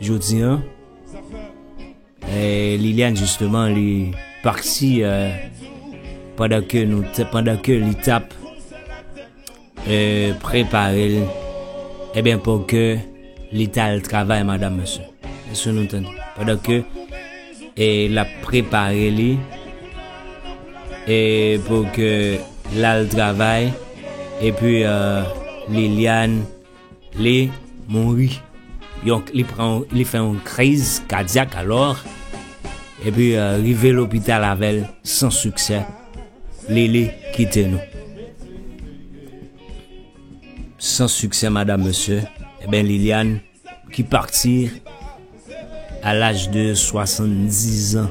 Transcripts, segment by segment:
Jodi an Liliane jisteman li pati pandan ke nou te, pandan ke li tap prepare l, eben pou ke li ta al travay madam mesye. Mesye nou tande. Pandan ke e la prepare li e pou ke l al travay epi Liliane Li mouri. Yon li pran li fè yon kriz kadyak alò epi rive lopital avè l san siksè Lili kite nou. San siksè madam mesye enben Liliane ki pati a laj de 70 zan.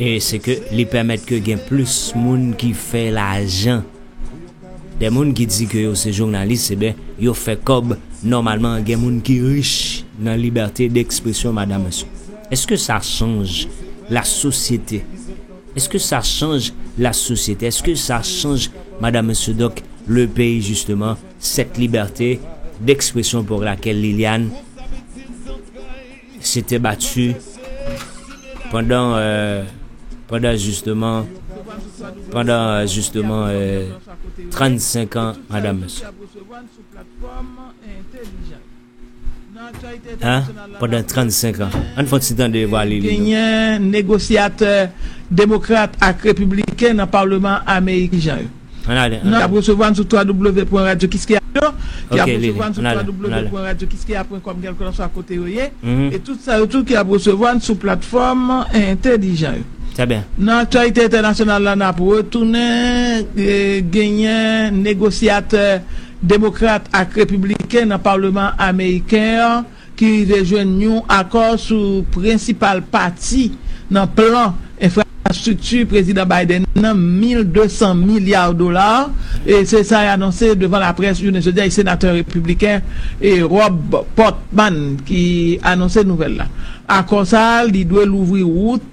E se ke li pèmèt ke gen plis moun ki fè lajan. Dè moun ki di ke yo se jounalis e ben yo fè kòb nòmalman gen moun ki rich nan libète dekspresyon madam esi. Eske sa chanj la sosyete? Eske sa chanj la sosyete? Eske sa chanj madam esi donk le peyi jisteman sèt libète dekspresyon pou lakel Liliane? Se te bati pandan pandan jisteman pandan jisteman 35 an madam mesye an pandan 35 an ann fon ti tande vwa li genyen negosyatè demokrat ak repibliken nan palman ameriken jan yo. Nou ap resevwa n sou www.radiokiskeya. Yo ki ap resevwa n sou www.radiokiskeya.com kèlkelanswa kote yo ye e tout sa yo tou ki ap resevwa n sou platfòm entelijan yo. Nan aktyalite entènasyonal la n ap retounen genyen negosyatè demokrat ak repibliken nan palman ameriken an. ki rive jwenn yon akò sou prensipal pati nan plan enfrastrikti Prezidan Biden nan, 1,200 milya dola, se sa y anonse devan laprès jounen jodi a. Se senatè repibliken Rob Portman ki anonse nouvèl la. Akò sa a li dwe louvri wout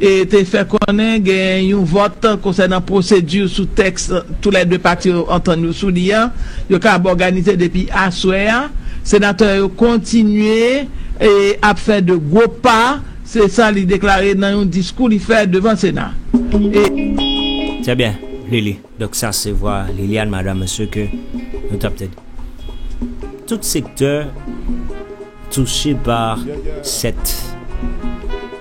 e te fè konnen gen yon vòt konsènan pwosedi sou tèks tou lè 2 pati yo antann yo sou li a, yo kab òganize depi aswè a. Senatè yo kontinye ap fè de gwo pa, se sa li deklare nan yon diskou li fè devan Sena e. Trè byen Lili, donk sa se vwa Liliane Madame Mesye ke nou tap tande. Tout sektè touche pa sèt.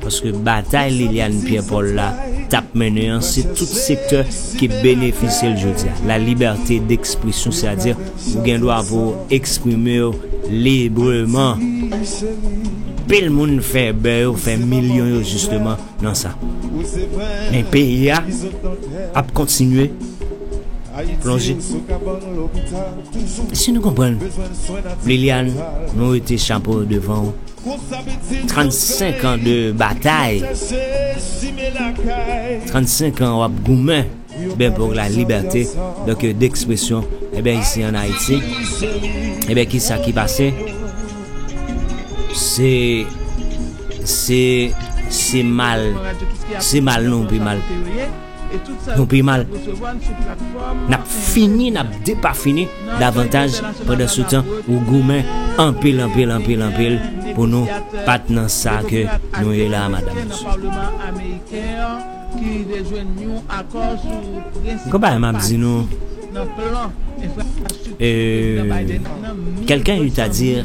Paske batay Liliane Pierre Paul la tap mennen an se tout sektè ki benefisye l jodi a, la liberté d'expression c'est à dire ou gen dwa pou w eksprime w libreman. Anpil moun fè bè yo, fè milyon yo jisteman nan sa. Men peyi a ap kontinye plonje. Si nou konprann Liliane nou rete chapo devan w. 35 ans de batay 35 ans wap goumen ben pou la liberte donk de ekspresyon e ben isi an Haiti e ben ki sa ki pase se se se mal se mal nou pi mal Nou pi mal. N ap fini, n ap depafini davantaj pandan sou tan ou goumen anpil, anpil, anpil, anpil pou nou pat nan sa ke nou ye la a madanm e mesye. Konpayèl m ap di nou e quelqu'un eut à dire.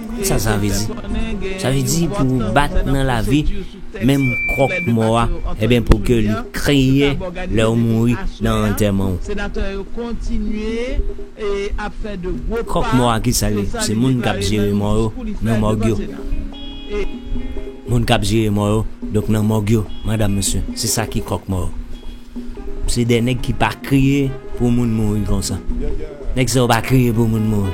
Sa sa vle di? Sa vle di pou ou bat nan lavi menm kròk mò a eben pou ke li kriye lè ou mouri nan antèman ou. Kròk mò a ki sa l ye? Se moun k ap jere mò yo nan mòg yo. Moun k ap jere mò yo donk nan mòg yo madam mesye se sa ki kròk mò yo. Se de nèg ki pa kriye pou moun mouri konsa. Nèg sa yo pa kriye pou moun mouri.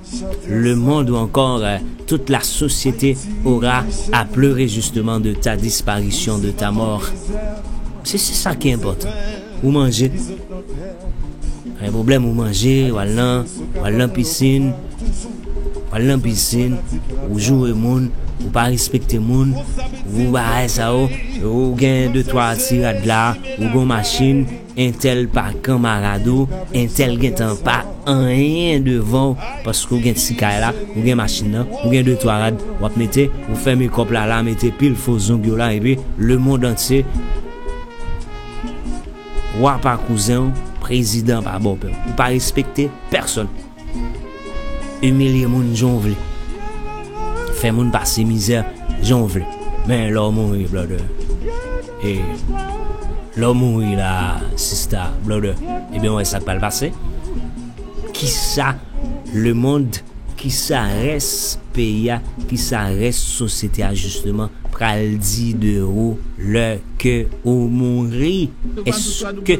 Le monde ou ankor tout la société aura à pleurer justement de ta disparition, de ta mort. Se se sa ki enpòtan. Ou manje. Pa gen pwoblèm ou manje, w al nan, w al nan pisin, w al nan pisin, ou joure moun, ou pa respekte moun, ou bagay sa yo, ou gen de twa ti rad la, ou gen yon machin, Entèl pa kanmarad ou, entèl gentan pa anyen devan w paske w gen ti kay la, ou gen machin nan, ou gen de twa rad w ap mete, ou fè mekòp la la, mete pil fo zong yo la epi lemond antye Wa pa kouzen w, prezidan pa bòpè w. Ou pa respekte pèsòn. Imilye moun jan w vle. Fè moun pase mizè jan w vle. Men lè w mouri brother e lè w mouri la sista, brother ebyen w wè sa k pral pase. Kisa lemond, kisa rès peyi a, kisa rès sosyete a jisteman pral di de ou lè ke ou mouri? Èske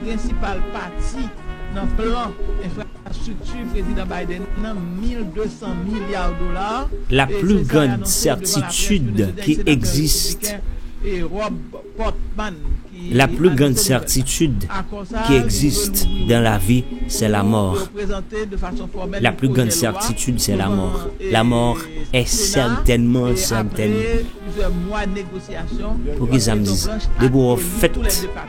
prensipal pati nan plan enfrastrikti Prezidan Biden nan, 1,200 milya dola, La pli grand sètitid ki egzist. La pli grand sètitid ki egzist dan lavi sè lamò. La pli grand sètitid sè lamò. Lamò è sètènman sètèn. Poukisa m di sa? Depi w fèt.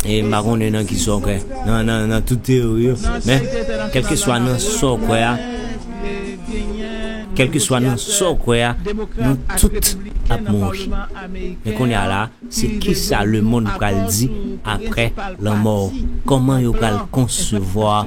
E m pa konnen nan ki sa w kwè, nan tout teyori yo, men, kèlkeswa nan sa w kwè a, kèlkeswa nan sa w kwè a, nou tout ap mouri. Men kounye a la, se ki sa lemonn pral di apre lanmò w? Kòman yo pral konsevwa.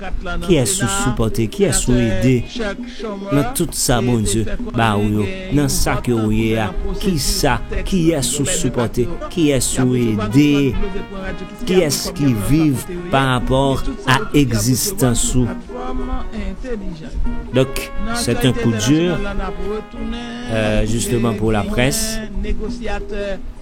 Kiyès ou sipòte, kiyès ou ede nan tout sa Bondye ba ou yo, nan sa ke ou ye a, kisa, kiyès ou sipòte, kiyès ou ede, kiyès ki viv pa rapò a egzistans ou. Donk, c'est un coup dur, euh, justement pour la presse.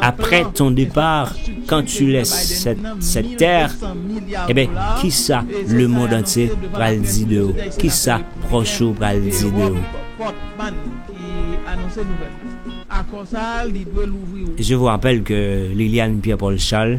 Après ton départ quand tu laisses cette terre Ebyen kisa le monde entier pral di de ou? Kisa pròch ou pral di de ou? Je vous rappelle que Liliane Pierre Paul Charles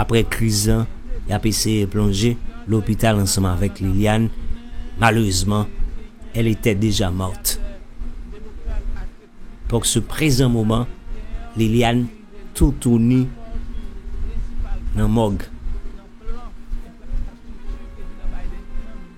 Aprè kriz la, y ap eseye plonje lopital ansanm avèk Liliane. Malerezman, elle était déjà morte. Pour ce présent moment, Liliane toutouni nan mòg.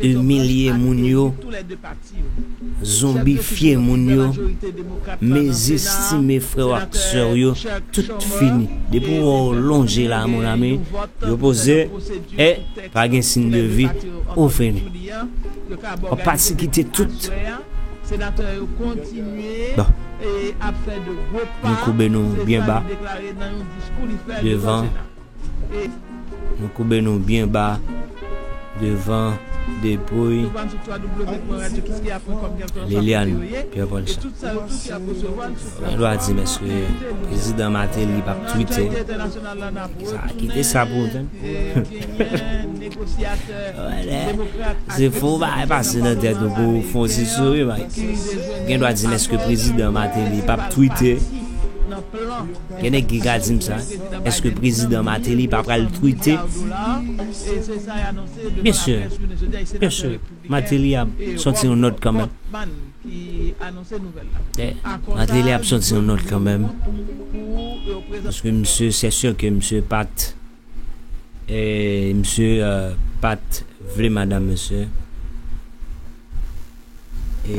2 milye moun yo zonbifye moun yo mezi stime frèw ak sèw yo tout fini depi ou wè yo lonje la mon ami yo poze e pa gen sin de vi ou fini wap pati kite tout bon nou koube nou byen ba devan Nou koube nou byen ba devan depouy Liliane Pierre Paulson. Mwen dwa di mesye, prezidan Martelly pa p twite. Sa kite sa pou mwen. Se fou ba e pase nan tèt ou pou fon ti souri Mike. Gen dwa di mesye prezidan Martelly pa p twite. Gen nèg ki ka dim sa, eske prezidan Martelly pa pral twite? Byen sur, byen sur, Martelly ap sòti yon nòt kanmenm. Martelly ap sòti yon nòt kanmenm, paske misye sè sur ke misye pat e misye pat vle madam misye e.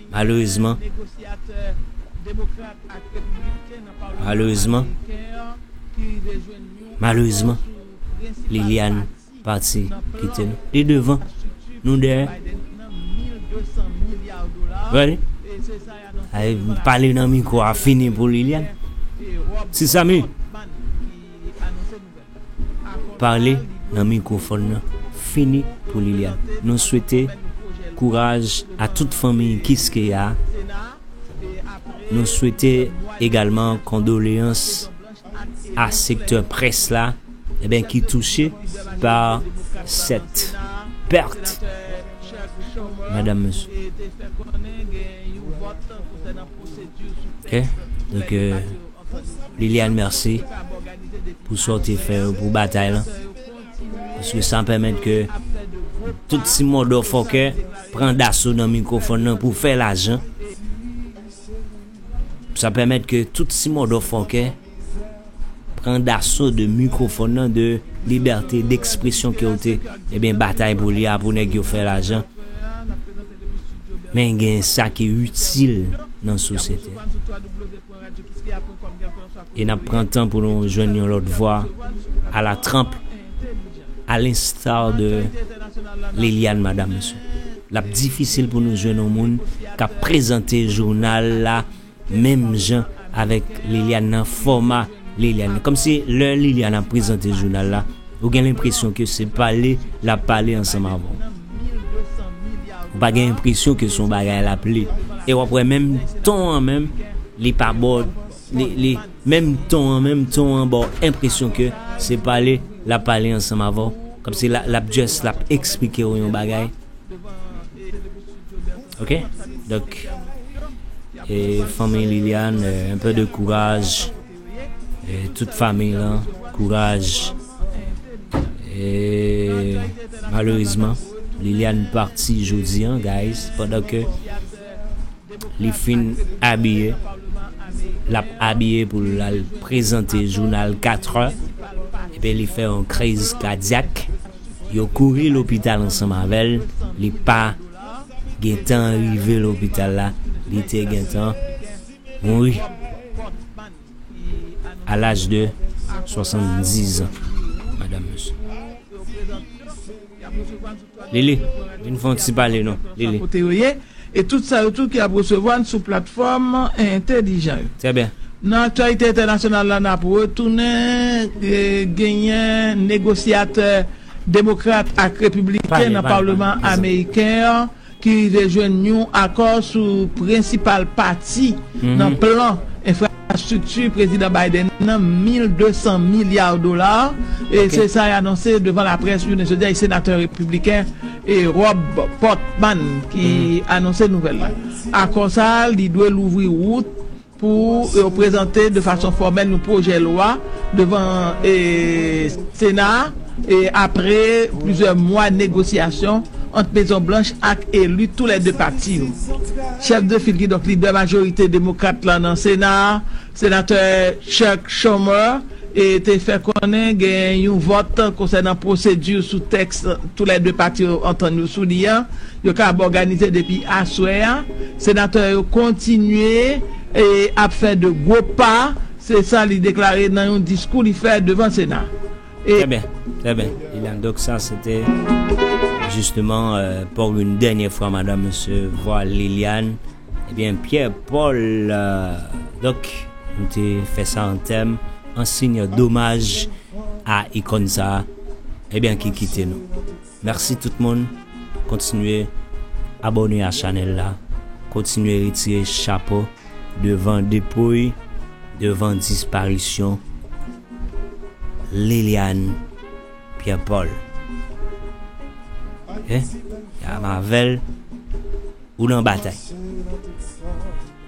Malerezman, malerezman, malerezman, Liliane pati kite nou. Li devan, nou dèyè. Ready? Ay, pale nan mikro a fini pou Liliane. Ti Samy! Pale nan mikro fòn nan fini pou Liliane nou swete kouraj a tout fanmiy kiskeya nou swete egalman kondoleyans a sektè près la ebyen ki touche pa sèt pèrt madam mesye. Liliane merci pou sa ou te fè yo pou batay lan paske sa pèmèt ke tout ti mòdò fòkè pran daso nan mikrofòn nan pou fè lajan sa pèmèt ke tout ti mòdò fòkè pran daso de mikrofòn nan de libète dekspresyon ke ou te ebyen batay pou li a pou nèg yo fè lajan men gen sa ki itil nan sosyete. e nap pran tan pou nou jwenn yon lòt vwa a la Trump a l'instar de Liliane madame Monsieur lap difisil pou nou jwenn yon moun kap prezante jounal la menm jan avèk Liliane nan fòma Liliane nan, kòmsi lè Liliane ap prezante jounal la ou gen lenpresyon ke se pale lap pale ansanm avèw. Ou pa gen enpresyon ke son bagay la pli. E wap wè menm ton an menm li pa baw li menm ton an menm ton an baw enpresyon ke se pale lap pale ansanm avèw kòmsi lap just lap eksplikew yon bagay ok donk e fanmiy Liliane un peu de courage. Tout famiy lan kouraj e malerezman Liliane parti jodi an guys pandan ke li fin abiye lap abiye pou lal prezante jounal 4 è epi li fè yon kriz kadyak yo kouri lopital ansanm avèl li pa gentan rive lopital la li te gentan mouri a laj de 70 ans madam Lili vin fon ti pale non Lili. kote yo ye e tout sa yo tou ki ap resevwa n sou platfòm entèlijan yo. Trè byen. Nan aktyalite entènasyonal la n ap retounen genyen negosyatè demokrat ak repibliken nan palman ameriken an. ki rive jwenn yon akò sou prensipal pati nan plan enfrastrikti Prezidan Biden nan, 1,200 milya dola, se sa y anonse devan laprès jounen jodi a. Se senatè repibliken Rob Portman ki anonse nouvèl la. Akò sa a li dwe louvri wout Pou yo prezante de fason fòmèl yon pwojè lwa devan Sena a apre plizyè mwa negosyasyon ant Mezon Blanch ak eli tou lè 2 pati yo. Chèf de fil kidonk lidè majorite demokrat la nan Sena a, Senatè Chuck Schumer te fè konnen gen yon vòt konsènan pwosedi sou tèks tou lè 2 pati yo antann yo sou li a, Yo kab òganize depi aswè a. Senatè yo kontinye ap fè de gwo pa, se sa li deklare nan yon diskou li fè devan Sena. E. Trè byen, trè byen, Liliane. Donk sa se te jisteman pou yon dènye fwa madan mesye vwa Liliane. E byen Pierre Paul, donk nou te fè sa an tèm, an siy domaj a ikòn sa a e byen ki kite nou. Merci tout moun kontinye abone a chanel la kontinye retire chapo devan depouy devan disparisyon Liliane Pierre Paul ok ya mavel ou nan batay.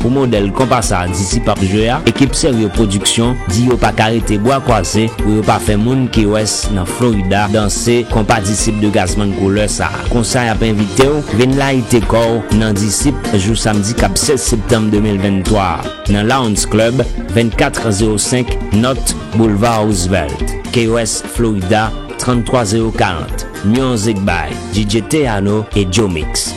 Pou modèl konpa sa Disi p ap jwe a, ekip Seryo Pwodiksyon di yo pa ka rete bwa kwaze pou yo pa fè moun Key West nan Florida danse konpa Disip de Gazzman Couleur sa. Konsa y ap envite w vin layite kò w nan Disip jou samdi k ap 16 septanm 2023 a nan Lounds Club 2405 Nòt Boulevard Roosevelt, Key West, Florida 33040. Music by DJ Teyano et Joe Mix.